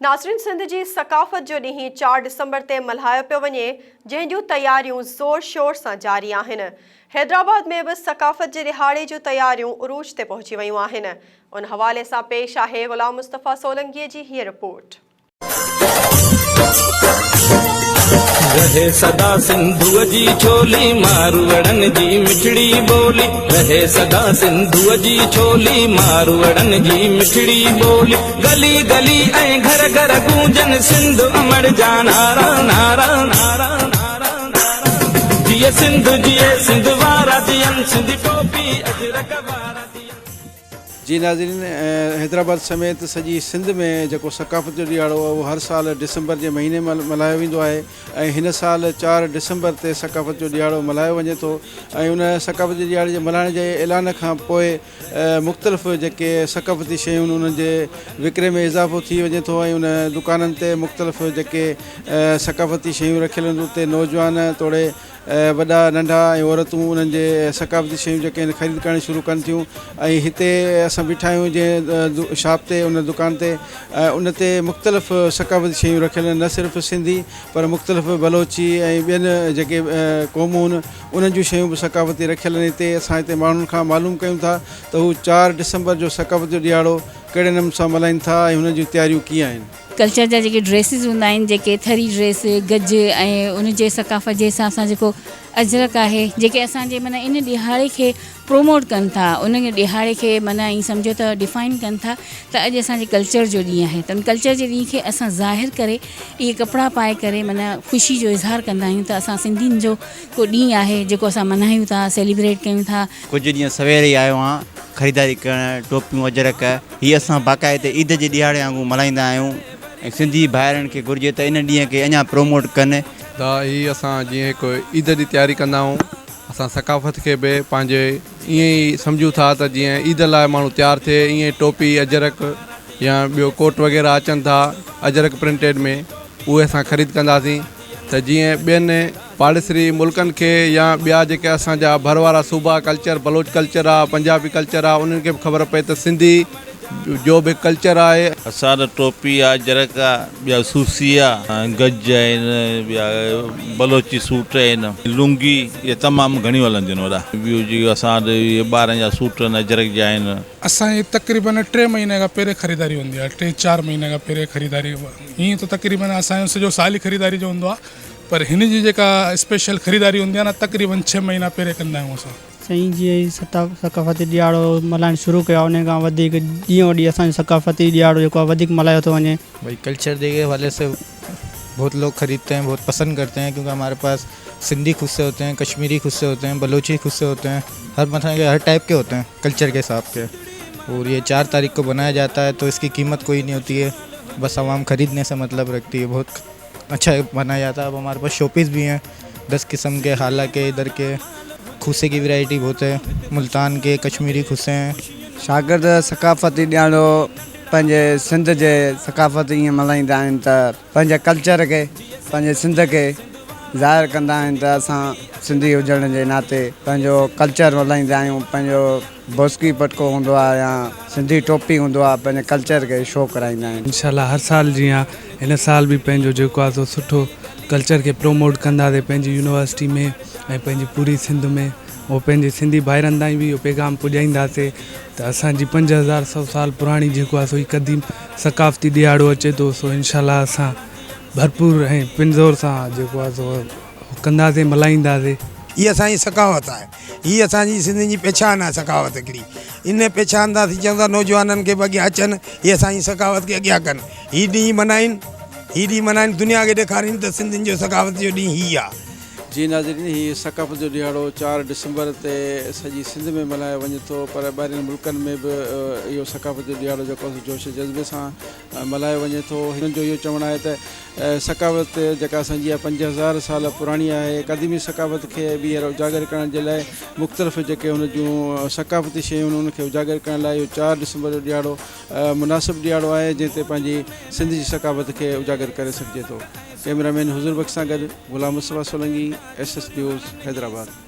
ناظرين سنڌ جي ثقافت جو ڏينهن چار ڊسمبر تي ملهايو پيو وڃي جنهن جون تياريون زور شور سان جاري آهن حيدرآباد ۾ به ثقافت جي ڏهاڙي جون تياريون عروج تي پهچي ويون آهن ان حوالي سان پيش آهي غلام مصطفيٰ سولنگي جي هيء رپورٽ. رهي سدا سنڌوء جي ڇولي ماروئڙن جي مٺڙي ٻولي رهي سدا سنڌوء جي ڇولي ماروئڙن جي مٺڙي ٻولي. گلي گلي ۽ گهر گهر گونجن سنڌ امڙ جا نعرا نعرا نعرا نعرا نعرا جيئي سنڌ جيئي سنڌ وارا جيئن سنڌي ٽوپي اجرڪ وارا جيئن. جي ناظرين حيدرآباد سميت سڄي سنڌ ۾ جيڪو ثقافت جو ڏيهاڙو اهو هر سال ڊسمبر جي مهيني ۾ ملهايو ويندو آهي ۽ هن سال چار ڊسمبر تي ثقافت جو ڏيهاڙو ملهايو وڃي ٿو ۽ ان ثقافت جي ڏيهاڙي جي ملهائڻ جي اعلان کان پوء مختلف جيڪي ثقافتي شيون آهن انهن جي وڪري ۾ اضافو ٿي وڃي ٿو ۽ انهن دڪانن تي مختلف جيڪي ثقافتي شيون رکيل هونديون اتي نوجوان توڙي وڏا ننڍا ۽ عورتون انهن جي ثقافتي شيون جيڪي آهن خريد ڪرڻ شروع ڪن ٿيون ۽ هتي اسان بيٺا آهيون جنهن شاپ تي ان دڪان تي ان تي مختلف ثقافتي شيون رکيل آهن نه صرف سنڌي پر مختلف بلوچي ۽ ٻين جيڪي قومون انهن جون شيون به ثقافتي رکيل آهن هتي اسان هتي ماڻهن کان معلوم ڪيون ٿا ته هو چار ڊسمبر جو ثقافت جو ڏيهاڙو ڪهڙي نمن سان ملهائين ٿا ۽ هن جون تياريون ڪيئن آهن. ڪلچر جا جيڪي ڊريسز هوندا آهن جيڪي ٿري ڊريس گج ۽ ان جي ثقافت جي حساب سان جيڪو اجرڪ آهي جيڪي اسان جي معنيٰ ان ڏيهاڙي کي پروموٽ ڪن ٿا ان ڏهاڙي کي معنيٰ ائين سمجهو ته ڊفائن ڪن ٿا ته اڄ اسان جي ڪلچر جو ڏينهن آهي ته ان ڪلچر جي ڏينهن کي اسان ظاهر ڪري اهي ڪپڙا پائي ڪري معنيٰ خوشي جو اظهار ڪندا آهيون ته اسان سنڌين جو ڪو ڏينهن آهي جيڪو اسان ملهايون ٿا سيليبريٽ ڪيون ٿا. ڪجهه ڏينهن سوير ئي آيو آهيان خريداري ڪرڻ ٽوپيون اجرڪ هي اسان باقاعده عيد جي ڏهاڙي وانگون ملهائيندا آهيون ۽ سنڌي ڀائرن کي گهرجي ته ان ڏينهن کي اڃان پروموٽ ڪن. ته هي اسان جيئن هڪ عيد جي تياري ڪندا آهيون. اسان ثقافت کي به پنهنجي ائين ئي سمجهون ٿا ته جيئن عيد لاء ماڻهو تيار ٿئي ائين ئي ٽوپي اجرڪ يا ٻيو ڪوٽ وغيره اچن ٿا اجرڪ پرنٽيڊ ۾ اهي اسان خريد ڪنداسين ته جيئن ٻين پاڙيسري ملڪن کي يا ٻيا جيڪي اسان جا ڀر وارا صوبا ڪلچر بلوچ ڪلچر آهي پنجابي ڪلچر آهي انهن کي به خبر پئي ته سنڌي جو به ڪلچر آهي. حسان ٽوپي آ جرڪ آ ٻيا سوسي آ گج آهن ٻيا بلوچي سوٽ آهن لونگي اهي تمام گهڻيون هلنديون آهن وڏا ٻيو جيڪي اسان وٽ اهي ٻارن جا سوٽ آهن اجرڪ جا آهن. اسان جي تقريبن ٽي مهيني کان پهرين خريداري هوندي آهي ٽي چار مهيني کان پهرين خريداري هيئن ته تقريبن اسان جو سڄو سال ئي خريداري جو هوندو آهي پر هن جي جيڪا اسپيشل خريداري هوندي آهي نه تقريبن ڇهه مهينا پهرين ڪندا آهيون اسان. سائين جي هي ثقافتي ڏيهاڙو ملهائڻ شروع ڪيو آهي انهي کان وڌيڪ ڏينهن و ڏينهن اسان جو ثقافتي ڏيهاڙو جيڪو آهي وڌيڪ ملهايو ٿو وڃي. ڀائی ڪلچر جي حوالي سي بهت لوگ خريدتي هين بهت پسند ڪرتي هين ڪيونڪه هماري پاس سنڌي خود سي هوتي هين ڪشميري خود سي هوتي هين بلوچي خود سي هوتي هين هر مٿان جي هر ٽائپ ڪي هوتي هين ڪلچر ڪي حساب ڪي اور هي چار تاريخ ڪو بنايا جاتا هي تو اسڪي قيمت ڪوئي نهي هوتي هي بس عوام خريدني سي مطلب رکتي هي بهت اڇا مانا يا ته ماري پاس شو پيس به هي دس قسم ڪي حالا ڪي در ڪي کوسي ڪي ورائٽي بهت هي ملتان ڪي ڪشميري کوسي هي شاگرد ثقافتي ڏياڙو پنهنجي سنڌ جي ثقافت ايئن ملهائيندا آهن ته پنهنجي ڪلچر کي پنهنجي سنڌ کي ظاهر ڪندا آهن ته اسان سنڌي هجڻ جي ناتي پنهنجو ڪلچر ملهائيندا آهيون پنهنجو بوسڪي پٽڪو هوندو آهي يا سنڌي ٽوپي هوندو آهي پنهنجي ڪلچر کي شو ڪرائيندا آهن. انشاء الله هر سال جيان هن سال به پنهنجو جيڪو آهي سو سٺو ڪلچر کي پروموٽ ڪنداسين پنهنجي يونيورسٽي ۾ ۽ پنهنجي پوري سنڌ ۾ ۽ پنهنجي سنڌي ڀائرن تائين به اهو پيغام پڄائينداسين ته اسان جي پنج هزار سؤ سال پراڻي جيڪو آهي سو هي قديم ثقافتي ڏيهاڙو اچي ٿو سو انشاء الله اسان ڀرپور ۽ پنزور سان جيڪو آهي سو ڪنداسين ملهائينداسين. هي اسان جي ثقافت آهي. هي اسان جي سنڌين جي پهچان آهي ثقافت هڪڙي ان پهچان تان اسين چاهيون ٿا نوجوانن کي به اڳيان اچن هي اسان جي ثقافت کي اڳيان ڪن هي ڏينهن منائين هي ڏينهن منائين دنيا کي ڏيکارين ته سنڌين جو ثقافت جو ڏينهن هي آهي. جي ناظرين هي ثقافت جو ڏهاڙو چار ڊسمبر تي سڄي سنڌ ۾ ملهايو وڃي ٿو پر ٻاهرين ملڪن ۾ به اهو ثقافت جو ڏهاڙو جيڪو جوش جذبي سان ملهايو وڃي ٿو. هنن جو اهو چوڻ آهي ته ثقافت جيڪا اسان جي اها پنج هزار سال پراڻي آهي. قديمي ثقافت کي ٻيهر اجاگر ڪرڻ جي لاء مختلف جيڪي هن جون ثقافتي شيون آهن ان کي اجاگر ڪرڻ لاء اهو چار ڊسمبر جو ڏيهاڙو مناسب ڏيهاڙو آهي جنهن تي پنهنجي سنڌ جي ثقافت کي اجاگر ڪري سگهجي ٿو. ڪئميرا مين حضور بخش سان گڏ Ghulam Mustafa Solangi S S news Hyderabad.